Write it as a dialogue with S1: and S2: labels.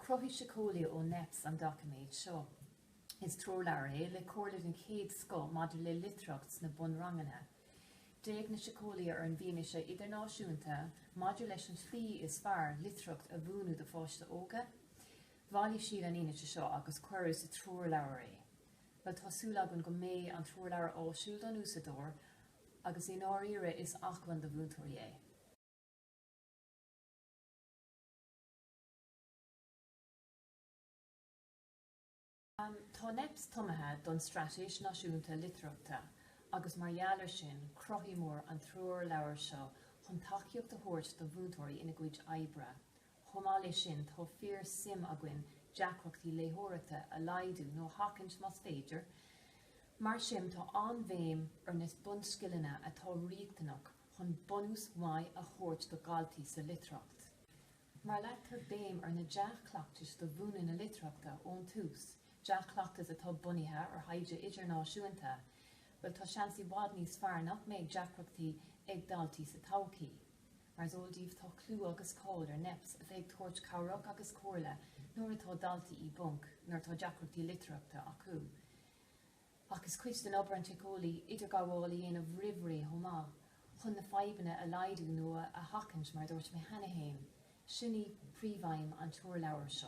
S1: Chruthaigh síceolaithe ó NEPS an doiciméad seo. Is treoirleabhar é le comhairle den chéad scoth maidir le litearthacht sna bunranganna. D'fhéach na síceolaithe ar an bhfianaise idirnáisiúnta maidir leis an tslí is fearr litearthacht a mhúineadh do pháistí óga. Bhailigh siad an fhianaise seo agus cuireadh sa treoirleabhar é. Bhuel, tá súil againn go mbeidh an treoirleabhar áisiúil don úsáideoir agus i ndáiríre is acmhainn do mhúinteoirí é. Tá NEPS tiomanta don Straitéis Náisiúnta Litearthachta agus mar gheall air sin cruthaíomar an treoirleabhar seo chun tacaíocht a thabhairt do mhúinteoirí ina gcuid oibre Chomh maith leis sin, tá fíor suim againn deacrachtaí léitheoireachta a laghdú nó a sheachaint más féidir. Mar sin, tá an-bhéim ar na bunscileanna atá riachtanach chun bunús maith a thabhairt do dhaltaí sa litearthacht. Má leagtar béim ar na dea-chleachtais do mhúineadh na litearthachta ón tús, dea-chleachtais atá bunaithe ar thaighde idirnáisiúnta, bhuel, tá seans i bhfad níos fearr nach mbeidh deacrachtaí ag daltaí sa todhchaí. Mar is eol daoibh, tá clú agus cáil ar NEPS, a bheith ag tabhairt cabhrach agus comhairle nuair atá daltaí i bponc, nuair atá deacrachtaí litearthachta acu. Ach is cuid d'obair an tsíceolaí idirghabháil a dhéanamh roimh ré chomh maith, chun na fadhbanna a laghdú nó a sheachaint, mar a dúirt mé cheana féin. Sin í príomhaidhm an treoirleabhair seo.